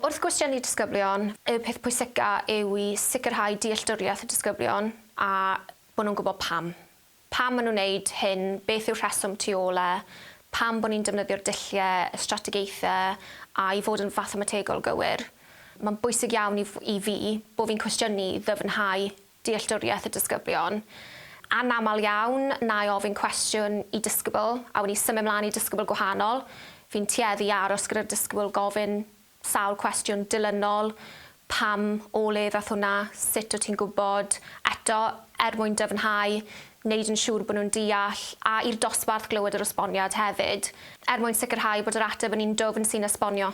Wrth gwestiynu disgyblion, y peth pwysica yw i sicrhau dealltwriaeth y disgyblion a bod nhw'n gwybod pam. Pam maen nhw'n wneud hyn, beth yw'r rheswm tu ôl e, pam bod ni'n defnyddio'r dulliau, y strategaethau a i fod yn fathemategol gywir. Mae'n bwysig iawn i i fi bod fi'n cwestiynu i ddyfnhau dealltwriaeth y disgyblion. Anaml iawn, na i ofyn cwestiwn i disgybl, a wn i symud mlaen i disgybl gwahanol, fi'n tueddu i aros gyda'r disgybl, gofyn sawl cwestiwn dilynol, pam, o le ddath hwnna, sut wyt ti'n gwybod, eto, er mwyn dyfnhau, wneud yn siŵr bod nhw'n deall, a i'r dosbarth glywed yr esboniad hefyd, er mwyn sicrhau bod yr ateb yn un dwfn sy'n esbonio.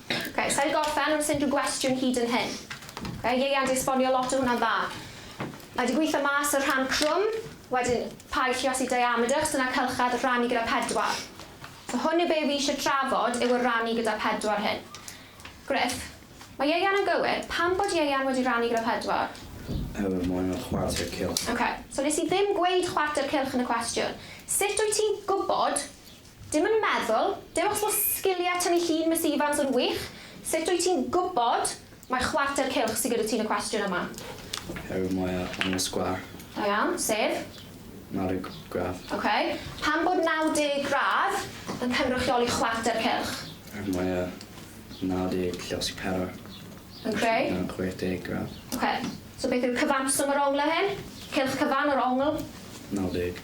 Ok, sa i di gorffen wrth unrhyw gwestiwn hyd yn hyn. Ok, ieuan di esbonio lot o hwnna'n dda. Mae di gweithio mas y rhan crwm, wedyn paid lliosi diameter achos dyna cylchedd rhannu gyda pedwar. So hwn yw be fi eisiau trafod yw y rannu gyda pedwar hyn. Gruff, Mae ieuan yn gywir, pam bod ieuan wedi rannu gyda pedwar? Oherwydd mae hwnna'n chwarter cylch. Ok, so nes i ddim gweud chwarter cylch yn y cwestiwn. Sut wyt ti'n gwybod Dim yn meddwl, dim ots bo sgilie tynnu llun Miss Evans yn wych, sut wyt ti'n gwybod mai chwarter cylch sy gyda ti yn y cwestiwn yma? Her mwya yn y sgwar. Da iawn, sef? 90 gradd. Ok, pam bod 90 gradd yn cynrychioli chwarter cylch? Her mwya 90 lle os yw pedwar Yn creu? yn 60 gradd. Ok, so beth yw'r cyfanswm o'r ongl hyn? Cylch cyfan o'r ongl? 90.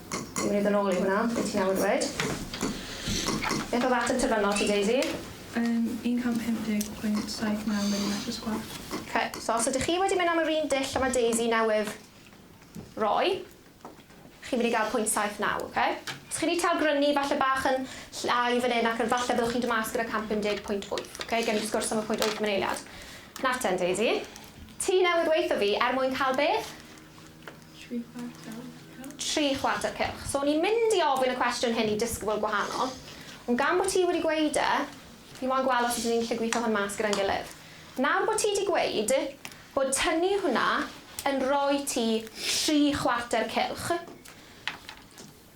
Dwi'n mynd i ddod nôl i hwnna, be ti newydd ddweud. Beth oedd ateb terfynol ti, Daisy? Yn 150.79 milimetr sgwâr. Ok, so os ydych chi wedi mynd am yr un dull a mae Daisy newydd roi, chi'n mynd i gael 0.79, ok? Os chi wedi tawgrynu falle bach yn llai fan hyn ac yn falle byddwch chi'n dod mas gyda 150.8, ok? Gewn ni sgwrs am y 0.8 maniliad. Nawr ten, Daisy. Ti newydd weutho fi, er mwyn cael beth? Tri chwarter cylch. Tri chwarter cylch. So o'n i'n mynd i ofyn y cwestiwn hyn i disgybl gwahanol, ond gan bo' ti wedi gweud e, fi moyn gweld os ydyn ni'n gallu gwitho hwn mas gyda'n gilydd. Nawr bo' ti 'di gweud bod tynnu hwnna yn roi ti tri chwarter cylch,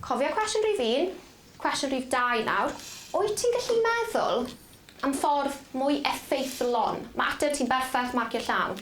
cofia cwestiwn rhif un, cwestiwn rhif dau nawr, wyt ti'n gallu meddwl am ffordd mwy effeithlon? Ma' ateb ti'n berffeth, marcio llawn.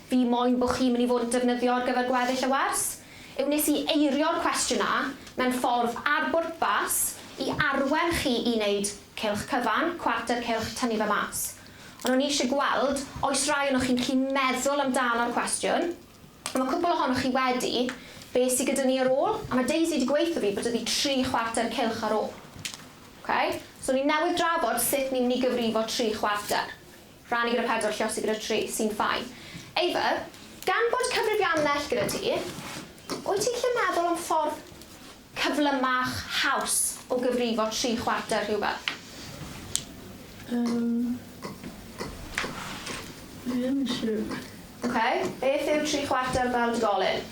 Fi moyn bo chi'n mynd i fod yn defnyddio ar gyfer gweddill y wers yw nes i eirio'r cwestiwn a mewn ffordd ar bwrpas i arwen chi i neud cylch cyfan, cwarter cylch, tynnu fe mas. Ond o'n i isie gweld oes rai onoch chi'n gallu meddwl amdano'r cwestiwn, a ma' cwpwl ohonoch chi wedi, be sy gyda ni ar ôl? A ma' Daisy 'di gweutho fi bod 'da fi tri chwarter cylch ar ôl. Ok? So ni newydd drafod sut ni mynd i gyfrifo tri chwarter. Rhannu gyda pedwar lluosog gyda tri sy'n fine. Eifr, gan bod cyfrifia'n well gyda ti, wyt ti'n gallu meddwl am ffordd cyflymach, haws, o gyfrifo tri chwarter rhywbeth? Yym, fi ddim yn siwr. Ok, beth yw tri chwarter fel dugolyn?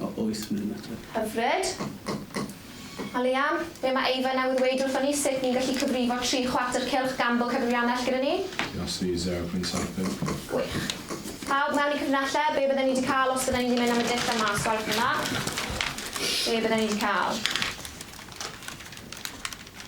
O, oes, mae'n ymateb. Hyfryd. A Liam, be mae Eifan newydd weud wrthon ni, sut ni'n gallu cyfrifo tri chwarter cylch gambo cyfrifiannell gyda ni? It has to be zero pwynt saith pump. Gwych. Pawb mewn i cyfrinellau, be bydden ni 'di cael os bydden ni 'di mynd am y dull yma? Sgwarwch hwnna. Be bydden ni 'di cael?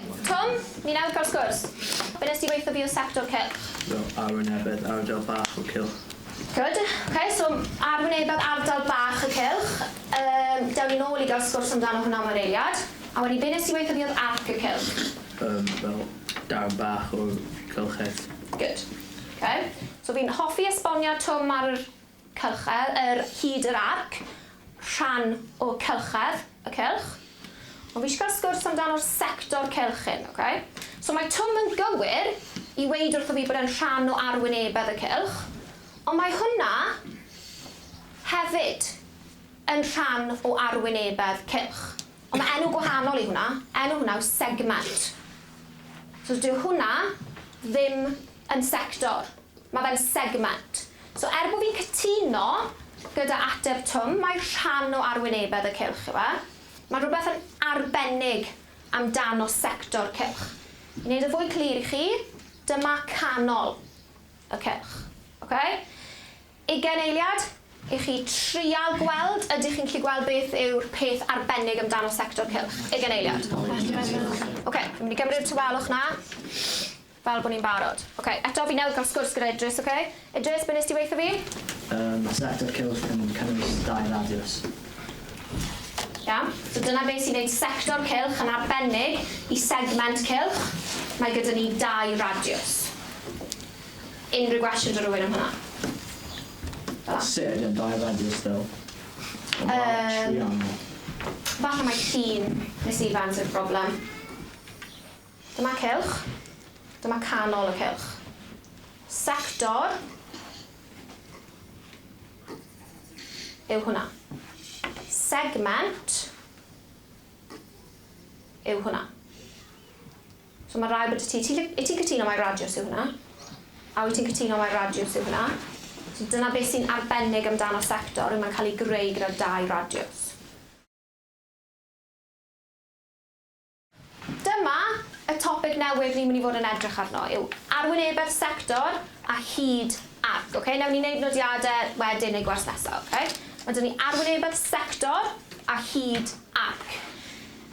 Twm, ni'n awr cael sgwrs. Be wnest ti weithio bio'r sector cylch? Do, arwynebedd ardal bach y cylch. Good. Ok, so arwynebedd ardal bach y cylch. Yym, dewn ni nôl i gael sgwrs amdano hwnna am yr eiliad. A wedyn, be wnest ti weithio biodd arc y cylch? Yym, fel darn bach o'r cylch het. Good. Ok, so fi'n hoffi esboniad Twm ar yr Cylchedd ar hyd yr arc, rhan o cylchedd y cylch. Ond fi eisiau cael sgwrs amdano'r sector cylch hyn, ok? So mae Twm yn gywir i weud wrtho fi bod e'n rhan o arwynebedd y cylch, ond mae hwnna hefyd yn rhan o arwynebedd cylch. Ond mae enw gwahanol i hwnna, enw hwnna yw segment. So dyw hwnna ddim yn sector, mae fe'n segment. So er bod fi'n cytuno gyda ateb Twm, mae rhan o arwynebedd y cylch yw e, mae rhywbeth yn arbennig amdano sector cylch. I wneud yn fwy clir i chi, dyma canol y cylch. Ocê? Ugain eiliad i chi trial gweld, ydych chi'n gallu gweld beth yw'r peth arbennig amdano sector cylch? Ugain eiliad. Ocê, fi'n mynd i gymryd y tawelwch 'na. Fel bo ni'n barod. Ok, eto fi newydd cael sgwrs gyda Idris, ok? Idris, be nes ti weitho fi? Yym, sector cylch yn cynnwys dau radiws. Iawn, so dyna be sy'n neud sector cylch yn arbennig i segment cylch, mae gyda ni dau radiws. Unrhyw gwestiwn da rywun am hwnna? Fel 'a. Sut ydy'n dau radiws ddo? Yym. Yn fawr triongl. Falle mai llun Miss Evans yw'r problem. Dyma cylch. Dyma canol y cylch. Sector yw hwnna. Segment yw hwnna. So mae rhaid bod y ti, i ti'n cytuno mai radiws yw hwnna? A wyt ti'n cytuno mai radiws yw hwnna? So dyna beth sy'n arbennig amdano sector yw mae'n cael ei greu gyda dau radiws. Dyma y topig newydd ni'n mynd i fod yn edrych arno yw arwynebedd sector a hyd arc, ok? Newn ni neud nodiade wedyn neu gwers nesa, ok? Ma' 'da ni arwynebedd sector a hyd arc.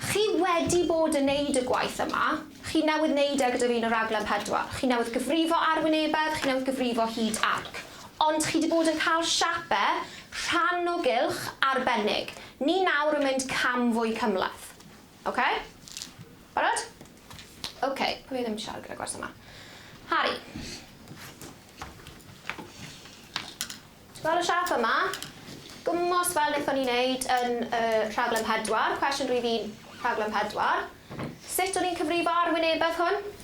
Chi wedi bod yn neud y gwaith yma, chi newydd neud e gyda fi yn y raglen pedwar. Chi newydd gyfrifo arwynebedd, chi newydd gyfrifo hyd arc. Ond chi 'di bod yn ca'l siape rhan o gylch arbennig. Ni nawr yn mynd cam fwy cymhleth. Ok? Barod? Ok, pwy oedd ddim yn siarad gyda gwers yma? Harri. Ti'n gweld y siap yma? Gymwst fel wnaethon ni wneud yn y rhaglen pedwar, cwestiwn rhif un rhaglen pedwar. Sut o'n i'n cyfrifo arwynebedd hwn?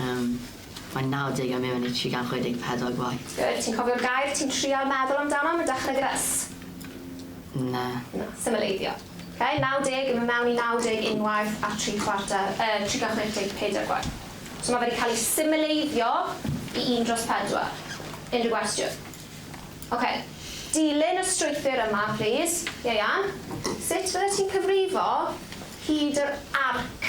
Yym, mae'n nawdeg a mewn i 364 gwaith. Good, ti'n cofio'r gair ti'n trial meddwl amdano am y dechrau gyda S? Na. Na, symleiddio. Ok, nawdeg yn mynd mewn i nawdeg unwaith a tri chwarter, yy, 364 gwaith. So mae fe 'di cael ei symleiddio i un dros pedwar. Unrhyw gwestiwn? Ok, dilyn y strwythur yma, plis. Ieuan, sut fyddet ti'n cyfrifo hyd yr arc?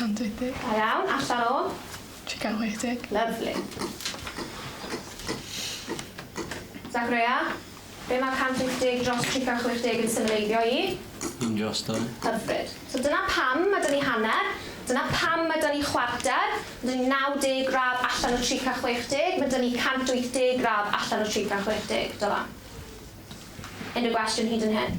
160. Da iawn, allan o? 380. Lyfli. Zachrea, be mae 150 dros 360 yn symleiddio i? Yn dros dau. Hyfryd. So dyna pam mae 'da ni hanner, dyna pam mae 'da ni chwarter, mae 'da ni 90 gradd allan o 360, mae 'da ni 180 gradd allan o 360. Dylan. Unrhyw gwestiwn hyd yn hyn?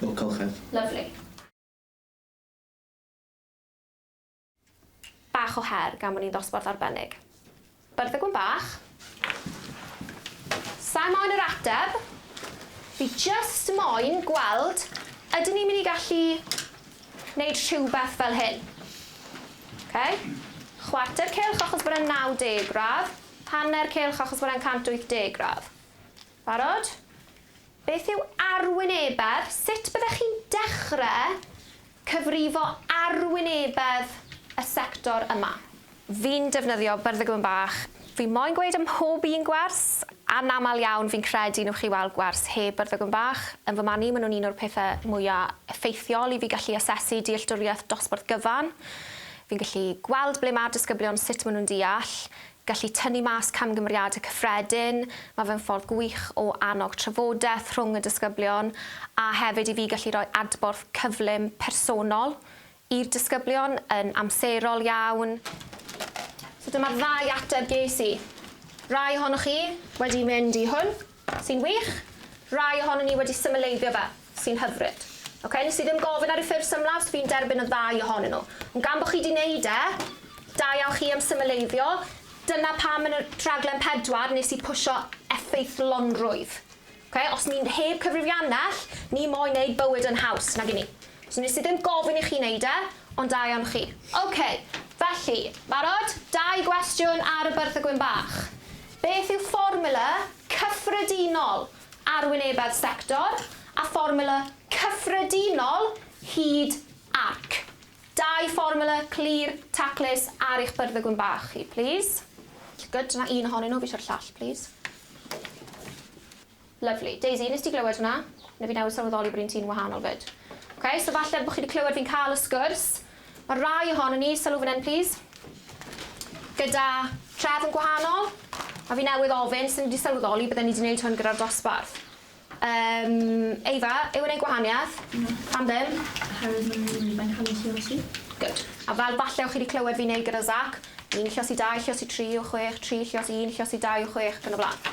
Wel colchedd. Lyfli. Bach o her gan bod ni'n ddosbarth arbennig. Byrddau gwn bach. Sa'i moyn yr ateb. Fi jyst moyn gweld ydyn ni'n mynd i gallu wneud rhywbeth fel hyn. Ok? Chwarter cylch achos bod e'n 90 gradd, hanner cylch achos bod e'n 180 gradd. Barod? Beth yw arwynebedd? Sut byddech chi'n dechrau cyfrifo arwynebedd y sector yma? Fi'n defnyddio Byrddygwn Bach. Fi moyn gweud ym mhob un gwers, anaml iawn fi'n credu nwch chi weld gwers heb Byrddygwn Bach. Yn fy marn i ma' nhw'n un o'r pethe mwya effeithiol i fi gallu asesu dealltwriaeth dosbarth gyfan. Fi'n gallu gweld ble ma'r disgyblion, sut ma' nhw'n deall. gallu tynnu mas camgymeriadau cyffredin, mae fe'n ffordd gwych o annog trafodaeth rhwng y disgyblion a hefyd i fi gallu rhoi adborth cyflym personol i'r disgyblion yn amserol iawn. So dyma'r ddau ateb ges i. Rai ohonoch chi wedi mynd i hwn. Sy'n wych! Rai ohonon ni wedi symleiddio fe. Sy'n hyfryd. Oce, nes i ddim gofyn ar y ffurf symlaf, fi'n derbyn y ddau ohonyn nhw. Ond gan bo chi 'di neud e, da iawn chi am symleiddio. Dyna pam yn y rhaglen pedwar nes i pwsio effeithlonrwydd. Oce, os ni'n heb cyfrifiannell, ni moyn neud bywyd yn haws, nag 'yn ni? So nes i ddim gofyn i chi neud e, ond da iawn chi. Oce, felly, barod? Dau gwestiwn ar y byrth a gwyn bach. Beth yw fformwla cyffredinol arwynebedd sector a fformwla cyffredinol hyd arc? Dau fformwla clir, taclus ar eich byrddygwn bach chi, plîs. Good, dyna un ohonyn nhw, fi isio'r llall, plîs. Lyfli. Daisy, wnest ti glywed hwnna? Na, fi newydd sylweddoli bod un ti'n wahanol 'fyd. Ok, so falle bod chi 'di clywed fi'n cael y sgwrs. Mae rai ohonon ni, sylw fan hyn plîs, gyda trefn gwahanol, a fi newydd ofyn, so ni 'di sylweddoli bydden ni 'di neud hwn gyda'r dosbarth. Yym, Efa, yw e'n neud gwahaniaeth? Na. Pam ddim? Oherwydd maen nhw'n mynd, mae'n cael eu llosi. Good. A fel falle o chi 'di clywed fi'n neud gyda Zach, un llosi dau, llosi tri o chwech, tri llosi un, llosi dau o chwech, ac yn y blaen.